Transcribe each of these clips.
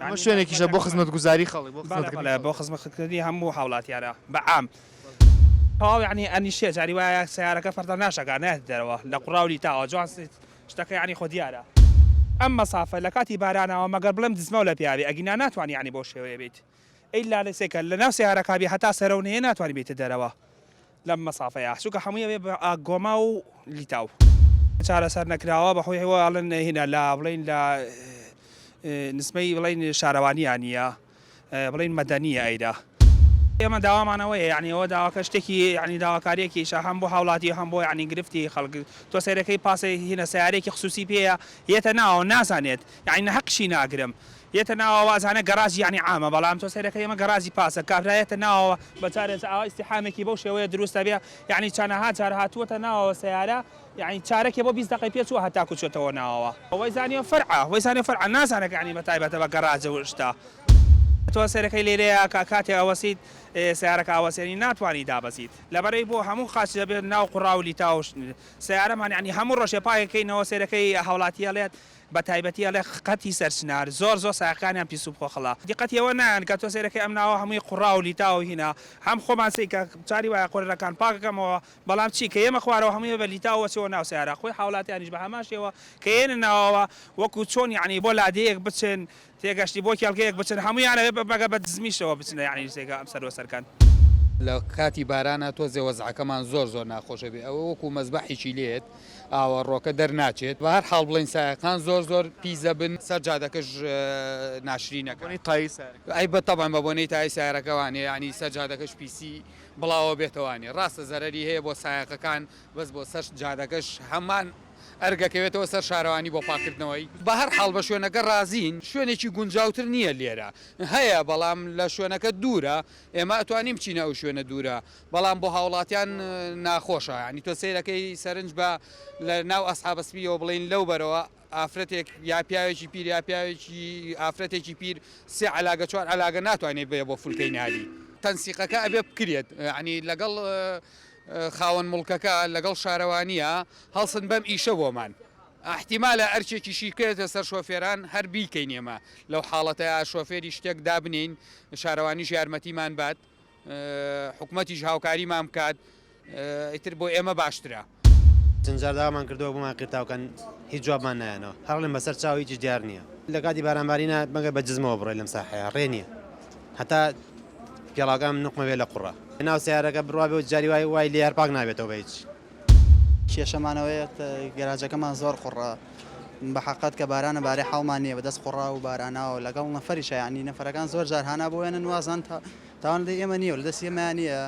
ئەمە شوێنێکیشە بۆ خزمەتگوزاری خەڵک، بۆ خزمەتکردنی خەڵک. بەڵێ بەڵێ، بۆ خزمەتکردنی هەموو هاوڵاتیانە بە عام. تەواو یانی ئەنیشێ، جاری وایە سەیارەکە فەردا ناشەکا، نایەتە دەرەوە لە قوڕا و لیتاوە، جوان سیت، شتەکە یانی خۆ دیارە. ئەم مەسافە لە کاتی بارانەوە مەگەر بڵێم دزمەو لە پێیابێ، ئەگینا ناتوانی یانی بەو شێوەیە بێیت. ئیلا لەسێکە لەناو سەیارەکابی هەتا سەرەو نەیە ناتوانی بێیتە دەرەوە. لەم مەسافەیە چونکە هەمووی ئەبێ بە گۆما و لیتاو چارەسەر نەکراوە بەخۆی هەیە ئەڵێن هینا لە بڵین لە نسبەی بڵین شارەوانیان نییە بڵین مەدەنیە ئەیدا ئێمە داوامانەوەیە یعنی ئەوە داواکە شتێکی یعنی داواکاریەکی شە هەم بۆ هاوڵاتی هەم بۆ یعنی گرفتی خەڵک تۆ سەیرەکەی پاسێ هینە سیارێکی خصوصی پێەیە یەتە ناوە نازانێت یعنی نە هەقشی ناگرم یەتە ناو ئاوا ئەزانە گەڕاجی یەعنی عامە بەڵام تۆ سەیرەکەی ئەمە گەڕاجی پاسە کابرا یەتە ناوەوە بە جارێ جا ئاوا ئیستیحامێکی بەو شێوەیە دروست ئەبێ یەعنی چەنەها جار هاتووەتە ناوەوە سەیارە یەعنی چارەکێ بۆ بیست دەقەی پێ چووە هەتاکوو چۆتەوە ناوەوە. وەی زانیوە فەرعە وەی زانیوە فەرعە نازانە کە یەعنی بە تایبەتە بە گەڕاج و شتە. تۆ سەیرەکەی لێرەیە کە کاتێ ئەوەسیت سەیارەکە ئەوەسێ یەعنی ناتوانی دابەزیت. لەبەرەی بۆ هەموو قاچ دەبێ ناو قوڕاو لیتاو سەیارەمان یەعنی هەموو ڕۆژێ پاکەکەینەوە سەیرەکەی هاوڵاتی ئەڵێت بە تایبەتی ئەڵێ خەتی سەرچنار زۆر زۆر سایەقەکانیان پیس و بخۆخڵە دیقەتی ئەوە نایەن کە تۆ سەیرەکەی ئەم ناوە هەمووی قوڕا و لیتاو و هینا هەم خۆمان سەی کە چاری وایە قۆررەکان پاک کەمەوە بەڵام چی کە یەمە خوارەوە هەمووی بە لیتاو و ئەچێەوە ناو سەیارە خۆی حاوڵاتیانیش بە هەمان شێوە کە یەنە ناوەوە وەکو چۆن یانی بۆ لادێیەک بچن تێگەشتی بۆ کێڵگەیەک بچن هەموویان ئەوێ بە بەگە بە دزمیشەوە بچنە یەعنی جێگا ئەم سەر وەسەر کەن. لە کاتی بارانا تۆزێ وەزعەکەمان زۆر زۆر ناخۆش ئەبێ ئەوە وەکو مەزبەحیکی لێت ئاوە ڕۆکە دەر ناچێت بە هەر حاڵ بڵێن سایەقان زۆر زۆر پیس دەبن سەر جادەکەش ناشرینە کە بۆنەی تایی سارەکە ئەی بە تەبعەن بە بۆنەی تایی سارەکە وانێ یەعنی سەر جادەکەش پیسی بڵاوە بێتە وانێ ڕاستە زەرەری هەیە بۆ سایەقەکان بەس بۆ سەر جادەکەش هەمان ئەرک ئەکەوێتەوە سەر شارەوانی بۆ پاککردنەوەی؟ بەهەر حاڵ بە شوێنەکە ڕازین شوێنێکی گونجاوتر نییە لێرە هەیە بەڵام لە شوێنەکە دوورە ئێمە ئەتوانین بچینە ئەو شوێنە دوورە بەڵام بۆ هاوڵاتیان ناخۆشە یانی تۆ سەیرەکەی سەرنج بە لە ناو ئەسحابە سپییەوە بڵێین لەو بەرەوە ئافرەتێک یا پیاوێکی پیر یا پیاوێکی ئافرەتێکی پیر سێ عەلاگە چوار عەلاگە ناتوانێت بێ بۆ فولکەی نالی تەنسیقەکە ئەبێ بکرێت یانی لەگەڵ خاوەن موڵکەکە لەگەڵ شارەوانییە هەڵسن بەم ئیشە بۆمان، ئیحتیمالە ئەرکێکیشی بکەوێتە سەر شۆفێران هەر بیکەین ئێمە لەو حاڵەتەیا شۆفێری شتێک دابنێین شارەوانیش یارمەتیمان بات حکومەتیش هاوکاریمان بکات ئیتر بۆ ئێمە باشترە. چەند جار داوامان کردووە بۆمان قیرتاو کەن هیچ جوابمان نایەنەوە هەر ئەڵێن بەسەر چاو هیچیش دیار نییە لە کاتی باران بارینە مەگەر بە جزمەوە بڕۆی لەم ساحەیە ڕێ نییە هەتا پێڵاوەکانم نوقمە بێت لە قوڕە ناو سەیارەکە بڕوا بێت جاری وای وای لێ هەر پاک نابێتەوە بە هیچ. کێشەمان ئەوەیە گەراجەکەمان زۆر قوڕە بە حەقەت کە بارانە بارێ حاڵمان نییە بەدەست قوڕا و باراناوە لەگەڵ نەفەریشە یانی نەفەرەکان زۆر جار هانا بۆێنن وازان تا تاوان لە ئێمە نییە لە دەست ئێمە نییە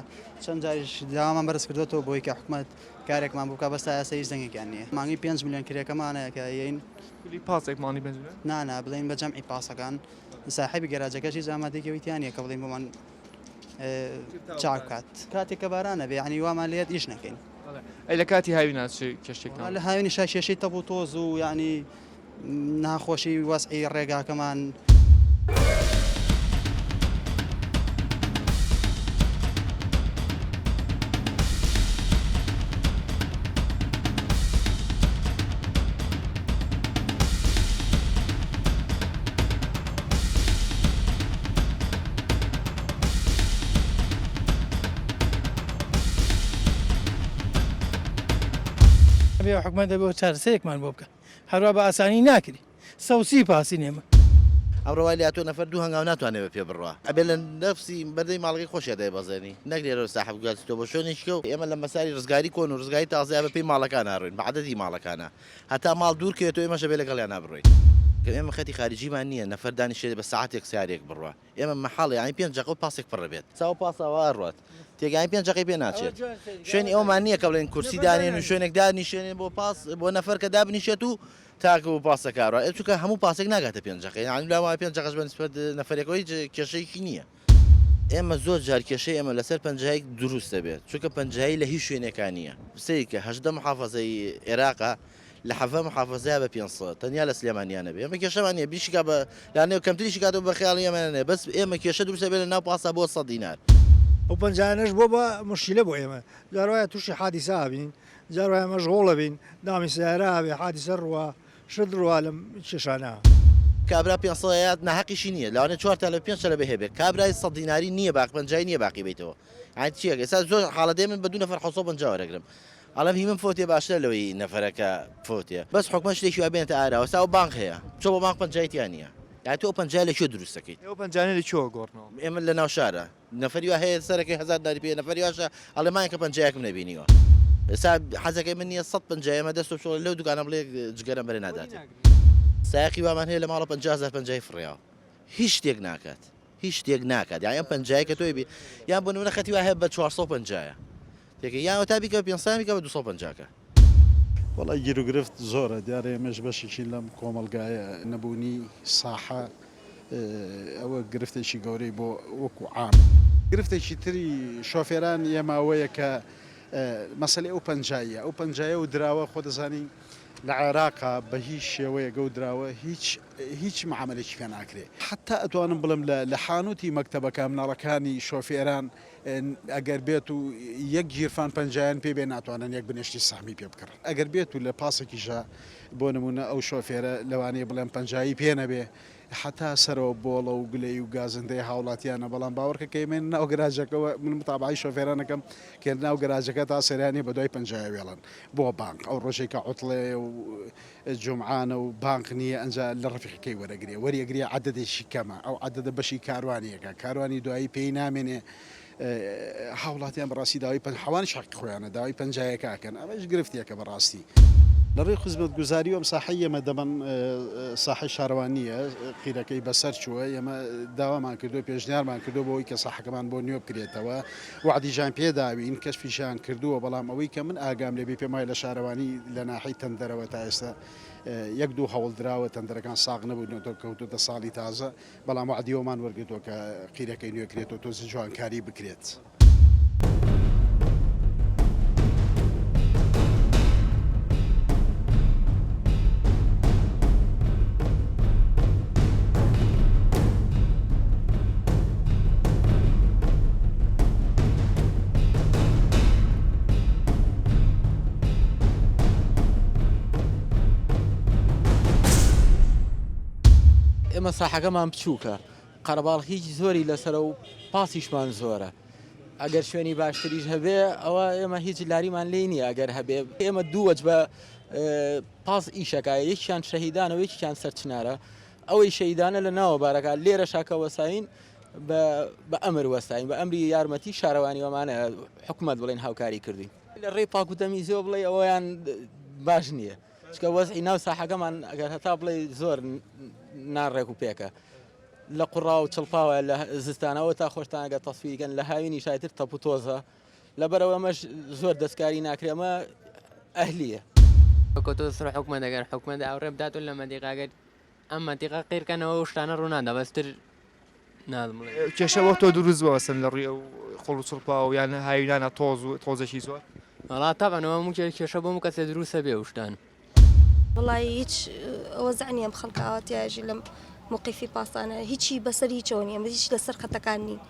چەند جاریش داوامان بەرز کردوێتەوە بۆی کە حکومت کارێکمان بووکە بەس تا ئێستا هیچ دەنگێکیان نییە مانگی پێنج ملیۆن کرێکەمانەیە کە یین کلی پاسێکمانی بنجنە نانا بڵێن بە جەمعی پاسەکان ساحێبی گەراجەکەش هیچ ئامادەیەکی ئەوی تیا نیە کە بڵێین بۆمان چاک بکات کاتێک کە باران نەبێ یانی وامان لێت ئیش نەکەین ئەی لە کاتی هاوی ناچی کێشتێکمان والله لە هاوینی شا کێشەی تەپ و تۆز و یعنی ناخۆشی وەسعی ڕێگاکەمان ئەبێ حکومەت دەبێ چارەسەرێکمان بۆ بکات هەروا بە ئاسانی ناکری سەوسی پاسی نێمە. ئەمڕۆ وای لاتووە نەفەر دوو هەنگاو ناتوانێ بە پێ بڕوا ئەبێ لە نەفسی بەردەی ماڵەکەی خۆشیا دایبەزێنی نەک لێرەوە ساحە بگاتیتەوە بۆ شوێنێکیکە و ئێمە لە مەساری ڕزگاری کۆن و ڕزگاری تازەیا بە پێی ماڵەکانا ڕۆین بە عەدەدی ماڵەکانا هەتا ماڵ دوور کەوێتەوە ئێمەش دەبێت لەگەڵیانا بڕۆین. گەر ئێمە خەتی خاریجیمان نییە نەفەر دانیشێت بە سەعاتێک سیارێک بڕوا ئێمە مەحاڵە یانی پێنج دەقە و پاسێک پڕ بێت چاو پاساوە ئەڕوات تێگەیاند پێنج دەقەی پێ ناچێت شوێنی ئەومان نییە کە بڵێن کورسی دانێن و شوێنێک دانیشێنێ بۆ پاس بۆ نەفەر کە دابنیشێت و تاکوو پاسەکە ئەڕوا چونکە هەموو پاسێک ناگاتە پێنج دەقە یانی لەوانەیە پێنج دەقەش بە نیسبەت نەفەرێکەوە هیچ کێشەیەکی نییە. ئێمە زۆر جار کێشەی ئێمە لەسەر پەنجایک دروست دەبێت چونکە پەنجایی لە هیچ شوێنێکا نییە سەیری کە هەژدە محافەزەی ئێراقە لە حەڤە محافەزەیا بە پێنج سەد تەنیا لە سلێمانیا نەبێ ئێمە کێشەمان نییە بیشیکا بە لانێ کەمتریشی کاتەوە بە خەیاڵی ئێمە نەنێ بەس ئێمە کێشە دروست دەبێت لە ناو پاسا بۆ سەد دینار ئەو پەنجایانەش بۆ بە موشکیلە بۆ ئێمە جار وایە تووشی حادیسە ئابین جار وایە مەشغوڵ ئەبین دامی سەیارە ئابێ حادیسە ڕوا شت ڕوا لەم کێشانە. کابرا پێنج سەد هەیە ناهەقیشی نیە لەوانە چوار تا لە پێنج تەلەبە هەبێ کابرای سەد دیناری نیە باقی پەنجای نیە باقی بیتەوە یانی چیە ئێستا زۆر حاڵە دێ من بە دوو نەفەر حەوت سەد و پەنجا وەرەگرم ئەڵێم هی من فوتێ باشترە لەوەی نەفەرەکە فوتێ بەس حکومەت شتێکی وا بێنێتە ئاراوە سا و بانک هەیە چۆ بە بانک پەنجای تیا نیە یانی تۆ ئەو پەنجایە لە کوێ دروستەکەیت ئەو پەنجانە لە کوێوە گۆڕنەوە؟ ئێمە لە ناو شارە نەفەری وا هەیە سەرەکەی هەزار دیناری پێیە نەفەری واشە ئەڵێ مایەکە پەنجەیەکم نەبینیوە ئێستا حەزەکەی من نییە سەد پەنجا ئێمە دەست و بچۆڵی لەو دوکانە بڵێ جگەرەم بەرێ ناداتێ سایەقی وامان هەیە لە ماڵە پەنجا هەزار پەنجای فڕیاوە هیچ شتێک ناکات هیچ شتێک ناکات یان ئەم پەنجایە کە تۆی بێ یان بۆ نمونە خەتی وایە بە چوار سەد و پەنجایە تێکە یان وەتا بیکە پێنج سەیان بیکە بە دوو سەد و پەنجا کە. وەڵای گیروگرفت زۆرە دیارە ئێمەش بەشێکین لەم کۆمەڵگایە نەبوونی ساحە ئەوە گرفتێکی گەورەی بۆ وەکو عام. گرفتێکی تری شۆفێران ئێمە ئەوەیە کە مەسەلەی ئەو پەنجاییە ئەو پەنجایە و دراوە خۆ دەزانی لە عێراقا بە هیچ شێوەیەک ئەو دراوە هیچ هیچ معامەلەیەکی پێ ناکرێ حەتا ئەتوانم بڵێم لە لە حانووتی مەکتەبەکە مناڵەکانی شۆفێران ئەگەر بێت و یەک گیرفان پەنجایان پێ بێ ناتوانن یەک بنێشتی سەهمی پێ بکڕن ئەگەر بێت و لە پاسێکیشا بۆ نمونە ئەو شۆفێرە لەوانەیە بڵێن پەنجایی پێ نەبێ حتا سەرەوە بۆڵە و گلەی و گازندەی هاوڵاتیانە بەڵام باوەڕکە کەمێن ناو گەراجەکەەوە من متابعی شۆفێرانەکەم کە ناو گەراجەکە تا سەرانی بە دوای پەنجایە وێڵن بۆ بانک ئەو ڕۆژێکە عوتڵێ و جومعانە و بانق نیە ئەنجا لە ڕەفیقی کەی وەرەگرێ وەریەگرێ عەدەدێکی کەمە ئەو عەدەدە بەشی کاروانیەکە کاروانی دوایی پێی نامێنێ هاوڵاتیان بەڕاستی داوای پەن حەوانش حەقی خۆیانە داوای پەنجایەکە ئەکەن ئەمەش گرفتێکە بەڕاستی لەڕێی خزمەتگوزاری و ئەم ساحەی ئێمە دەبەن ساحەی شارەوانیە قیرەکەی بەسەر چووە ئێمە داوامان کردو پێشنیارمان کردو بۆی کە ساحەکەمان بۆ نوێ بکرێتەوە وەعدی ژان پێ داوین کەشفی ژان کردووە بەڵام ئەوەی کە من ئاگام لێ بێ پێم وایە لە شارەوانی لە ناحەی تەندەرەوە تا ئێستا یەک دوو هەوڵ دراوە تەندەرەکان ساغ نەبوو نەتەوە کەوتۆتە ساڵی تازە بەڵام وەعدی ئەوەمان وەرگرتووە کە قیرەکەی نوێ کرێتەوە تۆزی جوانکاری بکرێت. ئێمە ساحەکەمان بچووکە قەرەباڵ هیچ زۆری لەسرە و پاسیشمان زۆرە ئەگەر شوێنی باشتریش هەبێ ئەوە ئێمە هیچ لاریمان لی نییە ئەگەر هەبێ ئێمە دووەج بە پاس ئیشەکە یەکیان شەهیدانەوە یەکیان سەرچنارە ئەوەی شەیدانە لە ناوە بارەکە لێرە شاکە وەساین بە ئەمر وەساین بە ئەمری یارمەتی شارەوانی وەمانە حکوومەت بڵێن هاوکاری کردین لە ڕێی پاکوتەمی زۆ بڵێ ئەویان باش نییە چکە وەزعی ناو ساحەکەمان ئەگەر هەتا بڵێ زۆر ناڕێک و پێکە لە قوڕا و چڵپاوە لە زستانەوە تا خۆشتانەگە تەسویرگەن لە هاوینی شایتر تەپوتۆزە لەبەرئەوە ئەمەش زۆر دەستکاری ناکرێ ئەمە ئەهلیە. وەکو تۆ سڕ حکومەت ئەگەر حکومەت ئاوڕێ بدات و لە مەدیقا گەر ئەم مەدیقا قیرکەنەوە و شتانە ڕوونادا بەستر نازم بڵێ کێشە وەک تۆ دروست بووە سن لە ڕووی ئەو خۆڵ و چڵپاوە و یان هاوینانە تۆز و تۆزێکی زۆر وڵا تاقەنەوە مکێ کێشە بۆم کەسێ دروستە بێ وشتان وەڵای هیچ وەزع نییە ئەم خەڵکە ئاوا تیاژی لەم موقیفی پاسانە هیچی بەسەر هیچەوە نیە هیچ لەسەر خەتەکان نین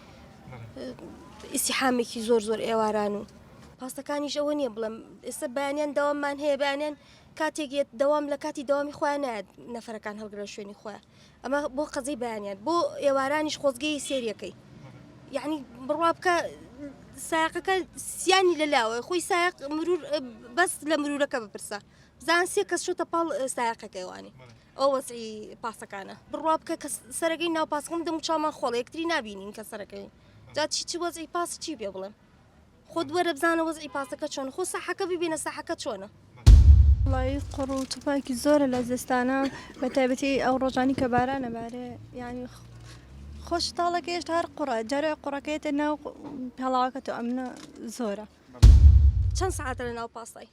ئیسیحامێکی زۆر زۆر ئێواران و پاسەکانیش ئەوە نییە بڵم ئێستا بەیانیان داوامان هەیە بەیانیان کاتێک یەت دەوام لە کاتی داوامی خۆیان نایەت نەفرەکان هەڵگرە شوێنی خۆیان ئەمە بۆ قەزەی بەیانیان بۆ ئێوارانیش خۆزگەی سێریەکەی یعنی بڕوا بکە ساقەکە سیانی لە لاوە خۆی ساق مرور بەس لە مرورەکە بپرسە بزان سێ کەس شۆتە پاڵ ساقەکەیوانی ئەو وەزعی پاسەکانە بڕوا بکە کە سەرەکەی ناو پاسکم دەم چامان خۆڵێکتری نبینین کە سەرەکەی جا چی چی وەزعی پاس چی پێ بڵێم خۆت وەرە بزانە وەزعی پاسەکە چۆن خۆ ساحەکە ببینە ساحەکە چۆنە وڵی قڕ و تفاکی زۆرە لە زستانە بە تایبەتی ئەو ڕۆژانی کە بارانە بارێ یعنی خۆش تاڵەکە هێشتا هەر قڕە جارە قڕەکەێتە ناو پێڵاوەکە تۆ ئەمنە زۆرە چەند ساعتە لە ناو پاسای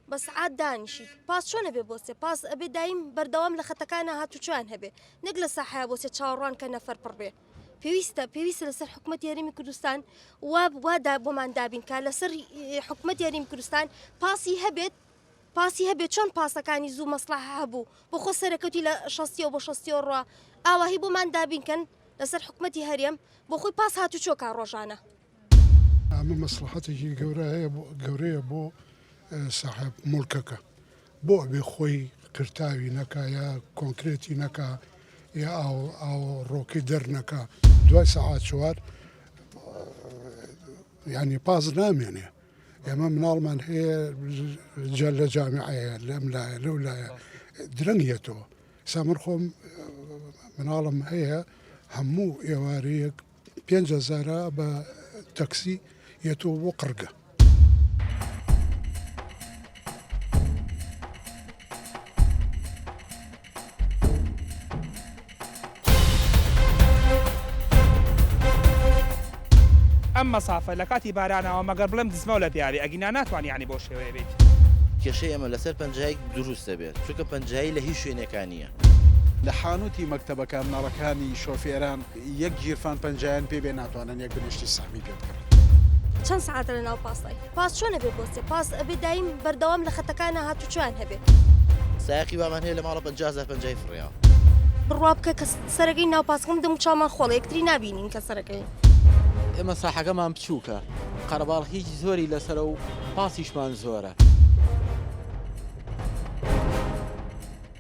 بە سەعات دانیشیت پاس چۆن ئەبێ بۆچێ پاس ئەبێ دایم بەردەوام لە خەتەکانە هاتوچۆیان هەبێ نەک لە ساحەیە بۆچێ چاوەڕوان کە نەفەر پڕ بێ پێویستە پێویستە لەسەر حکوومەت یاریمی کوردستان وا وادا بۆمان دابینکە لەسەر حکوومەت یاریم کوردستان پاسی هەبێت پاسی هەبێت چۆن پاسەکانی زوو مەسلح هەبوو بۆ خۆ سەرەکەوتی لە شەستیەوە بۆ شەستیەوە ڕوا ئاواهی بۆمان دابینکەن لەسەر حکوومەتتی هەرێم بۆ خۆی پاس هاتوچۆکە ڕۆژانە ئەمە مەسڵەحەتێکی گەورەیە بۆ ساحێب موڵکەکە بۆ ئەبێ خۆی قرتاوی نەکا یا کۆنکرێتی نەکا یا ڕۆکی دەرنەکە دوای سەعات چوار ینی پاز نامێنێ ئێمە مناڵمان هەیە جە لە جامعەیە لەم لایە لەو لایە درەنگێتەوە سامر خۆم مناڵم هەیە هەموو ئێوارەیەک پێنج هەزارە بە تەکسی یەتەوە بۆ قڕگە. ئەم مەسافە لە کاتی بارانەوە مەگەر بڵێم دزمەو لە پیاوی ئەگینا ناتوان یانی بەو شێوەیە بیت. کێشەی ئێمە لەسەر پەنجایەک دروست دەبێت چونکە پەنجایی لە هیچ شوێنێکا نییە. لە حانوتی مەکتەبەکان نەڕەکانی شۆفێران. یەک گیرفان پەنجایان پێ بێ ناتوانن یەک بنێشتی سەهمی پێ بکەن. چەند سەعاتە لە ناو پاسای پاس چۆنە بێ بۆ سێ پاس ئەبێ دایم بەردەوام لە خەتەکانە هاتوچۆیان هەبێ. سایەقی وامان هەیە لە ماڵە پەنجا هەزار پەنجای فڕێیە. بڕوا بکە کە سەرەکەی ناو پاسکم دەم و چاومان خۆڵە یەکتری نابینین کە سەرەکەی. ئێمە ساحەکەمان بچووکە قەرەباڵ هیچ زۆری لەسەرە و پاسیشمان زۆرە.